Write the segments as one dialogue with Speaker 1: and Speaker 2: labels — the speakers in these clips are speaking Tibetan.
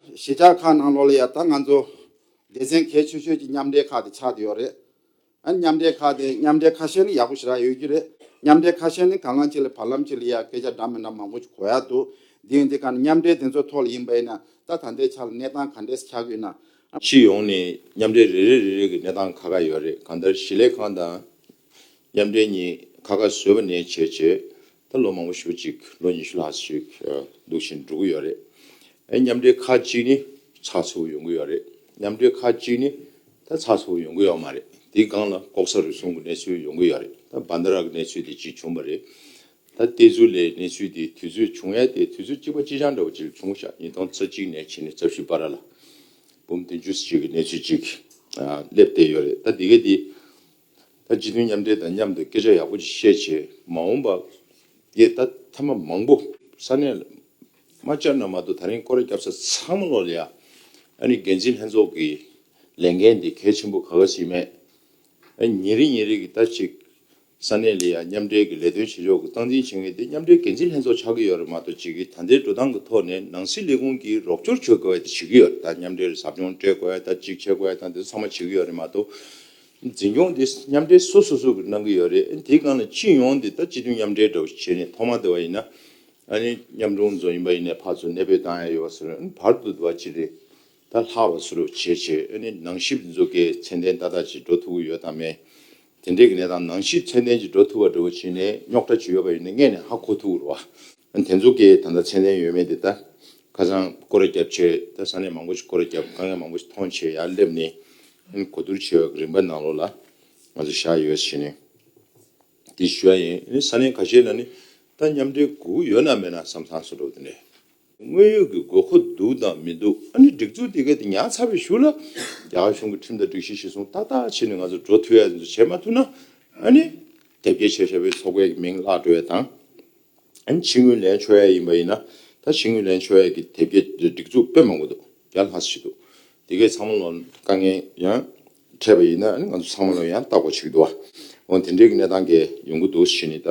Speaker 1: གཞིས་ཆགས་ཁག་ནང་ལོགས་ལ་ཡང་ད་ང་ཚོ་སྡེ་ཚན་གལ་ཆེ་ཤོས་ཀྱི་མཉམ་འབྲེལ་ཁག་དེ་ཆགས་ཏེ་ཡོད་རེད། ཨ་མཉམ་འབྲེལ་ཁག་དེ་མཉམ་འབྲེལ་ཁ་ཤས་ནི་ཡག་པོ་ཞེ་དྲག་ཡོད་ཀྱི་རེད། མཉམ་འབྲེལ་ཁ་ཤས་ནི་གང་ལག་ཅིག་ལ་བར་ལམ་ཅིག་ལ་ཡང་སྐད་ཆ་འདྲ་མི་འདྲ་མང་པོ་ཞིག་གོ་ཡག་འདུག་དེ་ཡིན་དེ་ག་ནི་མཉམ་འབྲེལ་དེ་ཚོའི་ཐོག་ལ་ཡིན་པ་ཡིན་ན་ད་ད་ལྟའི་ཆ་ལ་གནས་སྟངས་ག་འདྲས་ཆགས་ཀྱི་ཡོད་ན། ཕྱི་ཡོང་ནས་
Speaker 2: མཉམ་འབྲེལ་རེ་རེ་རེ་རེ་གི་གནས་སྟངས་ཁ་ཁ་ཡོད་རེད་གང་ལྟར་གཞིས་ལས་ཁང་དང་མཉམ་འབྲེལ་གཉིས་ཁ་ཁ་བཟོས་པ་ནས་བྱས་རྗེས་ད་ལོ་མང་པོ་ཞུ་ཅིག་ལོ་ཉི་ཤུ་ལྷག་ཅིག་འདུག་བཞིན་འགྲོ་གི་ཡོད་རེད། མཉམ་འབྲེལ་ཁག་གཅིག་ནི་ཚགས་ཚུད་པོ་ཡོང་གི་ཡོད་རེད། མཉམ་འབྲེལ་ཁག་གཅིག་ནི་ད་ཚགས་ཚུད་པོ་ཡོང་གི་ཡོད་མ་རེད། དེའི་སྒང་ལ་ལྐོག་ཟ་རུལ་སུངས་ཀྱི་གནས་ཚུལ་ཡོང་གི་ཡོད་རེད། ད་སྦ་མདའ་རག་གི་གནས་ཚུལ་དེ་གཅིག་བྱུང་པ་རེད། ད་བལྟས་ཚུལ་ལས་གནས་ཚུལ་དེ་དུས་ཚོད་བྱུང་ཡས་དེ་དུས་ཚོད་གཅིག་པ་ཅི་ཆང་འདྲ་བོ་ཅིག་བྱུང་ཤག་ཉིས་སྟོང་རྩ་གཅིག་ནས་ཕྱིན་ནས་རྩ་བཞི་པ་ར་ལ་འབུམ་བདུན་ཅུ་ཅིག་གི་གནས་ཚུལ་ཅིག་སླེབས་བསྡད་ཡོད་རེད། ད་འདི་གའི་དེ། ད་སྤྱི་མཐུན་མཉམ་འབྲེལ་དང་མཉམ་དུ་སྐད་ཆ་ཡག་པོ་བཤད་བྱས་མ་འོངས་པ་འདི་ད་ཐ་མ་མང་པོ་ས་གནས་དམའ་ཅག་ན་མ་གཏོགས་ད་རིང་ཀོ་རེ་སྐྱབས་ས་ཚང་མ་ལོག་ལེ་ཡ་ཨ་ནི་འགན་འཛིན་ལྷན་ཚོགས་ཀྱི་ལས་འགན་འདི་གལ་ཆེན་པོ་ག་ག་ཞིག་མེད་ཨ་ཉིན་རེ་ཉིན་རེ་གི་ད་ཅིག་ས་གནས་ལེ་ཡ་མཉམ་འབྲེལ་གྱི་ལས་དོན་བྱེད་ཕྱོགས་ཀྱི་སྟངས་འཛིན་བྱེད་མཁན་དེ་མཉམ་འབྲེལ་འགན་འཛིན་ལྷན་ཚོགས་ཆགས་ཀྱི་ཡོད་རེད་མ་གཏོགས་ཅིག་གིས་ད་ལྟའི་འགྲོ་སྟངས་ཀྱི་ཐོག་ནས་ནང་སྲིད་ལས་ཁུངས་ཀྱིས་རོགས་སྐྱོར་བྱེད་དགོས་པ་དེ་བྱེད་ཀྱི་ཡོད་རེད་ད་མཉམ་འབྲེལ་ཟབ་སྦྱོང་སྤྲད་དགོས་ད་ཅིག་བྱེད་དགོས་ད་འདི་ཚང་མ་བྱེད་ཀྱི་ཡོད་རེད་མ་གཏོགས། འཛིན་སྐྱོང་དེ་མཉམ་འབྲེལ་སོ་སོ་སོ་གིས་གནང་གི་ཡོད་རེད་དེའི་སྒང་ལ་སྤྱི་ཡོངས་དེ་ད་སྤྱི་མཐུན་མཉམ་འབྲེལ་འདྲ་བོ་བྱེད་ནས་ཐོག་མ་དེ་བ་ཡིན་ན་ཨཱ་ནི་མཉམ་སྒྲུང་རྫོང་ཡིན་པ་ཡིན་ནས་ཕར་ཚུར་གནས་སྤོས་བཏང་ཡ་ཡོད་བ་སོ་རེད་བར་དུ་དེ་བ་སྤྱི་རེད་ད་ལྷག་བ་སུ་རེད་བྱེད་བྱེད་ཨཱ་ནི་ནང་ཞིབ་མཛོད་དགེ་ཚན་ལྡན་ཏག་ཏག་ཅིག་འགྲོ་ཐུབ་ཀི་ཡོད་དམ་མེད་དེ་འདྲའི་གི་གནས་སྟངས་ནང་ཞིབ་ཚན་ལྡན་ཅིག་འགྲོ་ཐུབ་བ་འདྲ་བོ་བྱེད་ནས་རྙོག་དྲ་ཅིག་ཡོད་པ་ཡིན་ན་དངོས་ནས་ཧ་གོ་ཐུབ་ཀི་རུ་བ། དེ་ཚོ་གིས་ད་ལྟ་མཚན་ལྡན་ཡོད་མེད་དེ་ལྟ། ཁ་སང་ཀོ་ར་བརྒྱབ་ཆེད་ད་ས་གནས་མང་པོ་ཞིག་ཀོ་ར་བརྒྱབ་དཀའ་ངལ་མང་པོ་ཞིག་མཐོང་ཆེད་ཡར་སླེབས་ནས་ཨིན་གོ་བསྡུར་བྱེད་པ་རིམ་པ་གནང་རོགས་ལ་ང་ཚོ་བཞག་ཡོད་བྱས་ནས་དེ་ཞུ་བ་ཡིན་ཨིན་ས་གནས་ག་ཤེད་ལ་ནི་ད་མཉམ་འབྲེལ་དགུ་ཡོད་ན་མེད་ན་བསམ་ཚང་སུ་འགྲོ་བསྡུ་འདྲེ། དངོས་ཡོད་ཀྱི་དགོས་མཁོ་འདུག་དང་མི་འདུག་ཨ་ནི་སྒྲིག་འཛུགས་དེ་གའི་དེ་ཉག་ཚ་བས་ཞུ་ལ་རྒྱ་གར་གཞུང་གི་ཁྲིམས་དང་སྒྲིག་གཞི་གཞི་བཟུང་ཏག་ཏག་བྱེད་ནས་ང་ཚོ་འགྲོ་ཐུབ་ཡ་ཡ་འདི་ཚོ་བྱེད་མ་ཐུབ་ན་ཨ་ནི་དེབ་སྐྱེལ་བྱེད་བྱ་བའི་ཚོགས་པའི་མིང་བརླག་འགྲོ་བའི་དང། ཕྱི་ངོས་ལན་ཆོས་ཡ་ཡིན་པ་ཡིན་ན་ད་ཕྱི་ངོས་ལན་ཆོས་ཡ་གི་དེབ་སྐྱེལ་སྒྲིག་འཛུགས་དཔེ་མང་པོ་འདུག་རྒྱ་ལྷ་སུ་ཞིག་འདུག་དེ་གས་ཚང་མ་ལོ་དཀའ་ངལ་ཡང་འཕྲད་པ་ཡིན་ན་ང་ཚོ་ཚང་མ་ལོ་ཡང་བརྟག་པ་ཞིག་འདུག་ཨ་འོན་དེ་འདྲའི་གི་གནས་སྟངས་གས་ཡོང་གི་འདུག་ཞེས་ནི་ད་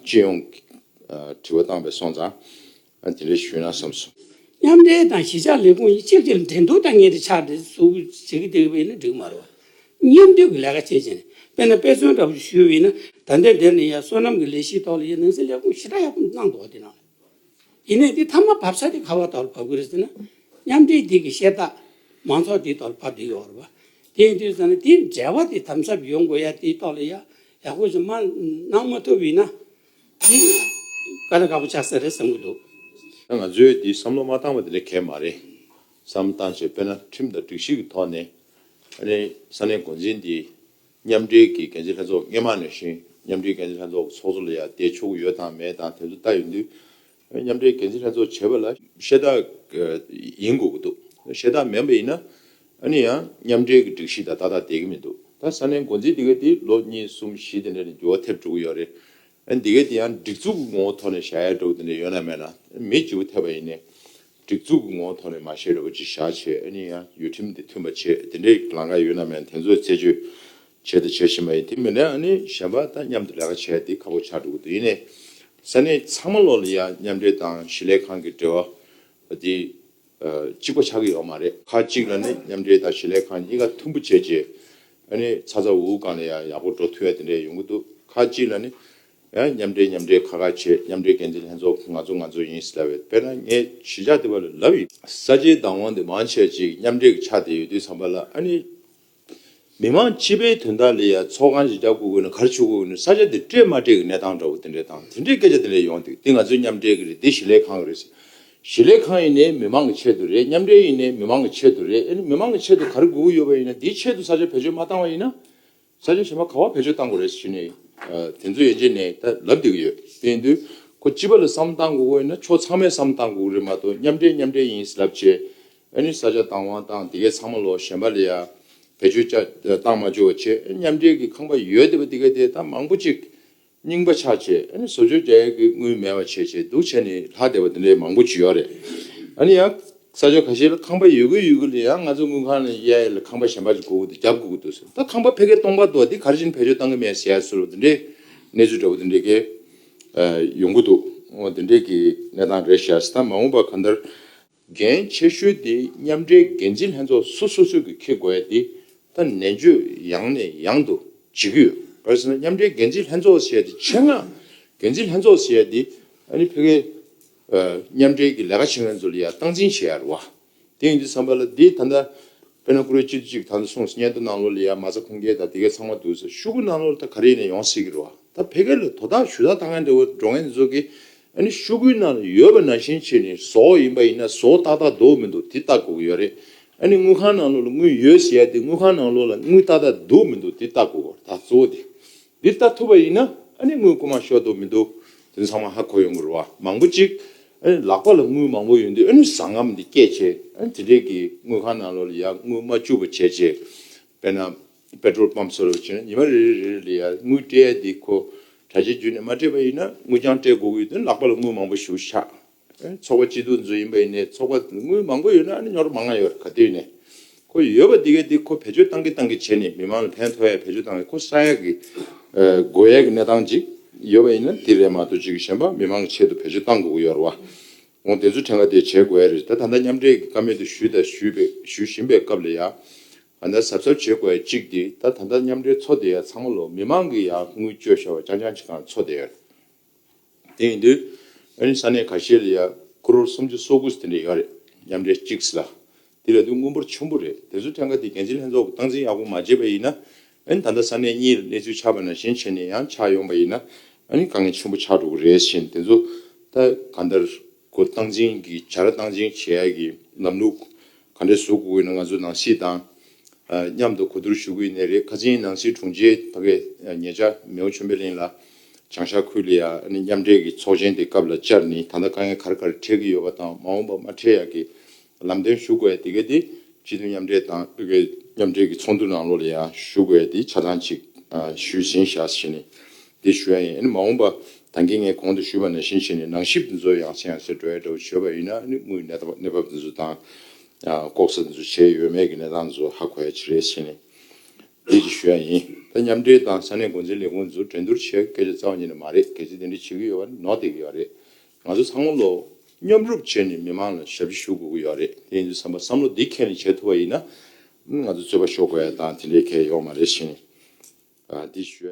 Speaker 2: སྤྱི་ཡོངས་ཀི་དྲི་བ་བཏང་པས་སོང་ཙང་དེ་འདྲའི་ཞུས་ན་བསམ་སོང། མཉམ་འབྲེལ་དང་
Speaker 3: གཞིས་ཆགས་ལས་ཁུངས་གཉིས་གཅིག་གྱུར་འགྲན་བསྡུར་དང་གཉིས་ཀྱི་ཆ་འགྲིག་འཛུགས་བྱེད་ཀྱི་འདུག་པས་ནི་འགྲིག་མ་རུང། གཉེར་འདོན་གྱི་ལས་ཀ་བྱེད་ཅིང། དཔེར་ན་དཔེ་མཚོན་འདྲ་པོ་ཞིག་ཞུ་འོས་ན། ད་ལྟའི་འདིར་ནི་ཡང་བསོད་ནམས་ཀྱི་ལས་ཤིག་ཐོག་ལ་ཡང་ནང་སྲིད་ལས་ཁུངས་ཞི་དྲག་ཡག་པོ་གནང་འདུག་བ་དེ་རང་ཡིན། ཡིན་ནས་འདི་མཐའ་མ་བབས་ས་དེ་ག་བ་ཐོག་ལ་བབས་ཀྱི་རེད་ཟེར་ན། མཉམ་འབྲེལ་རྒྱལ་ཁའི་ཤེས་རྟགས་མང་ཚོགས་དེའི་ཐོག་ལ་བབས་བསྡད་ཡོད་རེད་བ། དེའི་དུས་ཟེར་ན་དེའི་འབྲེལ་བ་དེ་དམ་ཟབ་ཡོང་དགོས་ཡ་དེའི་ཐོག་ལ་ཡང་ཡག་པོ་ཞིག་མ་གནང་མ་ཐུབ་ཡིན་ན། དེ་ག་ལ་དགའ་པོ་ཆགས་ས་རེད་བསམ་གྱི་འདུག། ད་ང་ཚོས་
Speaker 2: འདི་བསམ་བློ་མ་བཏང་བ་དེ་ལས་གལ་མ་རེད། བསམ་བཏང་ཆེད་དཔེར་ན་ཁྲིམས་དང་སྒྲིག་གཞི་གི་ཐོག་ནས་ས་གནས་འགོ་འཛིན་དེ་མཉམ་འབྲེལ་གྱི་འགན་འཛིན་ལྷན་ཚོགས་སྔས་མ་ནས་བཞིན་མཉམ་འབྲེལ་འགན་འཛིན་ལྷན་ཚོགས་ཀྱི་ཚོགས་གཙོ་ལ་ཡང་བལྟས་ཆོག་གི་ཡོད་དང་མེད་དང་དེ་ཚོ་ལྟ་ཡོད་དུས། མཉམ་འབྲེལ་འགན་འཛིན་ལྷན་ཚོགས་བྱེད་པ་ལ་ཤེས་རྟགས་ཡིན་དགོས་ཀྱི་འདུག་ཤེས་རྟགས་མེད་པ་ཡིན་ན་ཡང་མཉམ་འབྲེལ་གྱི་སྒྲིག་གཞི་དང་ཏག་ཏག་བསྡད་ཀྱི་མི་འདུག་ད་ས་གནས་འགོ་འཛིན་དེ་གའི་དེ་ལོ་གཉིས་གསུམ་བཞི་དེ་འདྲ་ནས་འགྱུར་བ་ཐེབས་འགྲོ་གི་ཡོད་རེད། དེ་གའི་དེ་ཡང་སྒྲིག་འཛུགས་ཀྱི་ངོ་བོ་ཐོག་ནས་བྱ་ཡ་འགྲོ་གི་དེ་འདྲ་ཡོད་ན་མེད་ན་མི་འགྱུར་བ་ཐེབས་པ་ཡིན་ནས། སྒྲིག་འཛུགས་ཀྱི་ངོ་བོ་ཐོག་ནས་མ་ཤེས་རེ་བ་ཅིག་བཞག་བྱས་ཨེ་ནུས་ཡང་ཡུལ་ཁྲིམས་དེ་མཐུན་པ་བྱེད་དེ་འདྲའི་ལང་ཀ་ཡོད་ནམ་ཡང་དེ་ཚོ་རྩད་གཅོད་བྱས་དང་བྱེད་བཞིན་པ་ཡིན་དེ་མིན་ན་ཨེ་ནུས་གཞན་པ་དང་མཉམ་དུ་ལས་ཀ་བྱས་དེ་ཁ་ཕོ་ཆགས་འགྲོ་གི་འདུག་ཡིན་ནའི་ས་གནས་ཚང་མ་ལོག་ལ་ཡང་མཉམ་འབྲེལ་དང་གཞིས་ལས་ཁང་གི་འབྲེལ་བ་དེ་གཅིག་པ་ཆགས་ཀྱི་ཡོད་མ་རེད་ཁ་ཅིག་ལ་ནི་མཉམ་འབྲེལ་དང་གཞིས་ལས་ཁང་གཉིས་ཀ་མཐུན་པོ་བྱས་རྗེས་ཨེ་ནུས་ཚ་ཚ་འུར་འུར་གང་ལ་ཡང་ཡག་པོ་འགྲོ་ཐུབ་ཡ་དེ་འདྲས་ཡོང་གི་འདུག་ཁ་ཅིག་ལ་ནི། ཡང་མཉམ་འབྲེལ་མཉམ་འབྲེལ་ཁ་ཁ་བྱེད་མཉམ་འབྲེལ་འགན་འཛིན་ལྷན་ཚོགས་ང་ཚོ་ང་ཚོ་ཡིན་ཟེར་ལབ་ཡོད་དཔེར་ན་ངས་གཞིས་ཆགས་དེ་བ་ལ་ལབ་ཡོད། ས་ཆའི་བདག་དབང་དེ་མང་ཆེ་ཅིག་མཉམ་འབྲེལ་གྱི་ཆ་དེ་ཡོད་དུས་ཚང་པ་ལ་ཨ་ནི། མི་མང་སྤྱི་པའི་དོན་དག་ལས་ཡ་མཚོ་གང་གཞིས་ཆགས་དགོས་དགོས་ནས་གར་ཆུ་དགོས་དགོས་ནས་ས་ཆ་དེ་སྤྲད་མ་སྤྲད་ཀྱི་གནས་སྟངས་འདྲ་བོ་དེ་འདྲའི་སྟངས་དེ་འདྲའི་སྐད་ཆ་དེ་འདྲ་ཡོང་དུས་དེ་ང་ཚོའི་མཉམ་འབྲེལ་གྱི་རེད་དེ་གཞིས་ལས་ཁང་གི་རེད་ཟེར། གཞིས་ལས་ཁང་ཡིན་ནའི་མི་མང་གི་ཆེད་དུ་རེད་མཉམ་འབྲེལ་ཡིན་ནའི་མི་མང་གི་ཆེད་དུ་རེད་ཨ་ནི་མི་མང་གི་ཆེད་དུ་གར་དགོས་ཀྱི་ཡོད་པ་ཡིན་ན་དེའི་ཆེད་དུ་ས་ཆ་བེད་སྤྱོད་མ་བཏང་བ་ཡིན་ན། ས་ཆ་གཞན་པ་ག་བ་བེད་སྤྱོད་གཏང་དགོས་རེད་ཞུས་ནས། དེ་ཚོ་ཡན་ཆད་ནས་ད་ལབ་བསྡད་ཀྱི་ཡོད། དེ་ཡིན་དུས། ཁོ་སྤྱི་པ་ལ་བསམ་བློ་གཏང་དགོས་དགོས་ཡིན་ན་ཕྱོགས་ཚང་མས་བསམ་བློ་གཏང་དགོས་ཀྱི་རེད་མ་གཏོགས་མཉམ་འབྲེལ་མཉམ་འབྲེལ་ཡིན་ཟེར་ལབ་བྱས། ཨ་ནི་ས་ཆ་བཏང་བ་དང་དེ་གའི་ཚང་མ་ལོག་གཞན་པ་ལ་ཡང་བེད་སྤྱོད་བཏང་མ་བཅོལ་བ་བྱས། མཉམ་འབྲེལ་གྱི་ཁང་པ་ཡོད་བསྡད་པ་དེ་ག་དེ་ད་མང་པོ་ཅིག་རྙིང་པ་ཆགས་ཆེ་ཨ་ནི་བཟོ་བཅོས་རྒྱ་ཡིག་གི་དངུལ་མེད་པ་བྱས་བྱས་འདུག་བྱས་ནས་ལྷག་བསྡད་པ་དེ་འདྲའི་མང་པོ་བྱུས་ཡོད་རེད། ཨ་ནི་ཡང་ས་ཕྱོགས་ཁ་ཤས་ལ་ཁང་པ་ཡོད་གི་ཡོད་གི་ལ་ཡང་ང་ཚོ་དངུལ་ཁང་ལ་གཡས་ལ་ཁང་པ་གཞན་པ་ཞིག་དགོས་གི་འདུག་རྒྱབ་དགོས་གི་འདུག་ཟེར་ད་ཁང་པ་ཕལ་སྐད་སྟོང་པ་འདུག་དེ་ག་རེ་བྱས་ནས་བེད་སྤྱོད་གཏང་གི་མེད་ཟེར་ཟེར་བ་དེ་འདྲའི་གནས་ཚུལ་འདྲ་པོ་དེ་འདྲའི་གི་ཡོང་གི་འདུག་དེ་འདྲའི་གི་གནས་སྟངས་རེད་བྱས་ད་མ་འོངས་པ་གང་ལྟར་འགན་ཆེ་ཤོས་དེ་མཉམ་འབྲེལ་འགན་འཛིན་ལྷན་ཚོགས་སུ་སོ་སོས་ཀྱིས་འཁྱེར་དགོས་ཡ་དེ་ད་ནན་བརྗོད་ཡང་ནས་ཡང་དུ་བྱེད་ཀྱི་ཡོད་གལ་སྲིད་ན་མཉམ་འབྲེལ་འགན་འཛིན་ལྷན་ཚོགས་ཟེར་ཡ་དེ་ཆེད་མངགས་འགན་འཛིན་ལྷན་ཚོགས་ཟེར་ཡ་དེ་ཨ་ནི་ཕེ་ཁེ་མཉམ་འབྲེལ་གྱི་ལས་ཀ་བྱེད་མཁན་ཚོ་ལ་ཡ་སྟངས་འཛིན་བྱེད་ཡ་རུ་བ་དེ་ཡིན་དུས་བསམ་པ་ལ་དེ་ད་ད་པེ་ན་ཀུ་རེ་སྤྱི་འཐུས་གཅིག་ད་ད་སོང་ཟིག་སྙན་ཐོ་གནང་ལོ་ལ་ཡ་མ་ཚ་ཁུངས་སྐྱེལ་ད་དེ་གས་ཚང་མ་འདུག་ཟེར་ཤུ་གུ་གནང་ལོ་ལ་ད་ག་རེ་ཡིན་ནས་ཡོང་སྲིད་ཀྱི་རུ་བ་ད་ཕེ་ཁེ་ལ་དོ་བདག་ཞུ་དག་ད་མཁན་འདྲ་བོ་འགྲོ་མཁན་དེ་ཚོ་གིས་ཨ་ནི་ཤོ་གུའི་ནང་ལ་ཡོད་པ་ནང་བཞིན་བྱས་ནས་བཟོ་ཡིན་པ་ཡིན་ན་བཟོ་ཏག་ཏག་འདུག་མི་འདུག་དེ་ལྟ་དགོས་ཀྱི་ཡོད་རེད་ཨ་ནི་དངུལ་ཁང་ནང་ལོགས་ལ་དངུལ་ཡོད་ཟེར་ཡ་དེ་དངུལ་ཁང་ནང་ལོགས་ལ་དངུལ་ཏག་ཏག་འདུག་མི་འདུག་དེ་ལྟ་དགོས་ཀྱི་ད་གཙོ་བོ་དེ་འདི་ལྟ་ཐུབ་པ་ཡིན་ན་ཨ་ནི་དངུལ་རྐུ་མ་ཤོར་འདུག་མི་འདུག་དེ་ཚང་མ་ཧ་གོ་ཡོང་གི་རེད་བ་མང་པོ་གཅིག་ཨ་ནི་ལག་པ་ལ་དངུལ་མང་པོ་ཡོད་འདུག་ཨ་ནི་བཟང་ངམ་འདི་སྐད་བྱས་ཨ་ནི་དེ་འདྲས་ཀྱིས་དངུལ་ཁང་ནང་ལོགས་ལ་ཡ་དངུལ་མ་བཅུག་པ་བྱས་རྗེས་དཔེར་ན། པེ་ཏྲོལ་པམ་སོགས་རོལ་ཅིང་ཉི་མ་རེ་རེ་རེ་ལ་ཡར་དངུལ་སྤྲད་ཡ་དེ་ཁོ་གྲ་རྒྱས་རྒྱུ་ནས་མ་སྤྲད་པ་ཡིན་ན་དངུལ་རྐྱང་སྤྲད་དགོས་ཀྱི་དོན་ལག་པ་ལ་དངུལ་མང་པོ་ཞུགས་ཤག་ཚོགས་པ་སྤྱི་འཐུས་འཛུགས་ཡིན་པ་ཡིན་ནས་ཚོགས་པ་དངུལ་མང་པོ་ཡོད་ན་ནི་ཉོར་མ་ང་ཡོད་ག་དུས་ནས་ཁོ་ཡོད་པ་དེ་གས་དེ་ཁོ་བེད་སྤྱོད་བཏང་གི་བཏང་གི་བྱས་ནས་མི་མང་ལ་ཕན་ཐོག་ཡ་བེད་སྤྱོད་བཏང་ཡ་ཁོ་ས་ཡ་གི་དགོས་ཡ་གི་གནས་སྟངས་ཅིག་ཡོད་པ་ཡིན་ན་དེ་རེད་མ་གཏོགས་ཅིག་གཞན་པ་མི་མང་གི་ཆེད་དུ་བེད་སྤྱོད་བཏང་དགོས་ཀྱི་ཡོད་རེད་བ་འོང་དེ་ཚོའི་ཕྲན་ག་དེ་བྱས་དགོས་ཡ་རེད་ད་ད་ལྟ་མཉམ་འབྲེལ་གྱི་ཀ་མེད་དུ་ཞུས་དང་ཞུས་པའི་ཞུ་བཞིན་པའི་སྐབས་ལ་ཡ་ང་ནི་གཟབ་གཟབ་བྱེད་དགོས་པ་གཅིག་འདི་ད་ད་ལྟ་མཉམ་འབྲེལ་ཚོགས་སྡེ་ཡག་ཚང་མ་ལོ་མི་མང་གི་ཡག་དངུལ་བཅོལ་ཤོར་བ་རྐྱང་རྐྱང་བྱེད་ཁང་ཚོགས་སྡེ་ཡག་རེད་དེ་ཡིན་དུས་ཨ་རིའི་ས་གནས་ག་ཤེད་ལ་ཡག་ཁུ་རོར་སུམ་ཅུ་སོ་དགུ་དེ་འདྲ་ཡག་རེད་མཉམ་འབྲེལ་གཅིག་སི་ལ་དེ་ལས་དུ་དངུལ་འབོར་ཆེན་པོ་རེད་དེ་ཚོ་ཐད་ཀ་དེ་འགན་འཛིན་ལྷན་ཚོགས་ཀྱི་སྟངས་འཛིན་ཡག་པོ་མ་བྱེད་པ་ཡིན་ན་ཨ་རིའི་ད་ལྟ་ས་གནས་གཉིས་ལ་གནས་ཚུལ་ཆགས་པ་ན་གཞན་ཕྱེད་ནས་ཡང་ཆགས་ཡོང་པ་ཡིན་ན་ཨ་རིའི་དཀའ་ངལ་ཆེན་པོ་ཆགས་འགྲོ་གི་རེད་བཞིན་དེ་ཚོ་ད་ག་འདར་གོ་སྟངས་འཛིན་གྱི་བྱ་ར་སྟངས་འཛིན་བྱེད་ཡག་གི་ལམ་ལུགས་ག་འདྲའི་ཟུག་གུ་གུ་ཡིན་ན་ང་ཚོའི་ནང་གཤིས་དང་མཉམ་དུ་གོ་བསྡུར་ཞུ་གི་ཡིན་ནི་རེད་ཁ་ཆེའི་ནང་སྲིད་དྲུང་ཆེ་ད་གས་ཉེ་ཆར་མེའོ་ཆོན་པེ་ལིན་ལ་བྱང་ཤར་ཁུལ་ལ་མཉམ་འབྲེལ་གྱི་ཚོགས་ཆེན་དེ་སྐབས་ལ་བཅར་ནི་ད་ལྟ་དཀའ་ངལ་གར་གར་འཕྲད་ཀྱི་ཡོད་པ་དང་མ་འོངས་པ་མ་འཕྲད་ཡག་གི་ལམ་སྟོན་ཞུ་དགོས་དེ་གས་དེ་སྤྱི་འཐུས་མཉམ་འབྲེལ་དང་མཉམ་འབྲེལ་གྱི་ཚོགས་འདུ་ནང་ལོ་ལ་ཡང་ཞུ་དགོས་དེ་ཆ་ཚང་ཅིག་ཞུས་ཟིན་ཤག་ཞེས་ནི་དེ་ཞུ་ཡ་ཡིན་ཨ་ནི་མ་འོངས་པ་དང་གི་ངས་གོང་དུ་ཞུས་པ་ནང་བཞིན་བྱས་ནས་ནང་ཞིབ་འདི་ཚོ་ཡང་ཆེ་ཡང་ཆེ་འགྲོ་ཡ་འདྲ་བོ་བྱོས་པ་ཡིན་ན་ཨ་ནི་དངུལ་གནས་གནས་བབ་འདི་ཚོ་དང། ལྐོག་ཟ་འདི་ཚོ་བྱས་ཡོད་མེད་གི་གནས་སྟངས་འདི་ཚོ་ཧ་གོ་ཡ་ཆེ་རེད་བྱས་ནས་འདི་གི་ཞུ་ཡ་ཡིན་ད་མཉམ་འབྲེལ་དང་ས་གནས་འགོ་འཛིན་ལས་ཁུངས་འདི་ཚོ་འགྲན་སྡུར་བྱས་སྐད་ཆ་རྩ་བ་ཉིད་ནས་མ་རེད་གལ་སྲིད་དེ་འདྲ་བྱེད་གི་ཡོད་པ་ནི་ནོར་འདེད་གི་ཡོད་རེད་ང་ཚོ་ཚང་མ་ལོ། མཉམ་རུབ་བྱས་ནས་མི་མང་ལ་ཞབས་ཕྱི་ཞུ་དགོས་གི་ཡོད་རེད་དེ་ཡིན་དུས་བསམ་པ་བསམ་བློ་འདི་ཁྱེད་ནས་བྱས་ཐུབ་པ་ཡིན་ན་ཨ་ནི་ང་ཚོ་རྩོད་པ་ཤོར་དགོས་ཡ་དང་དེ་འདྲའི་གལ་ཡོད་མ་རེད་བྱས་ནས་འདི་ཞུ་ཡ།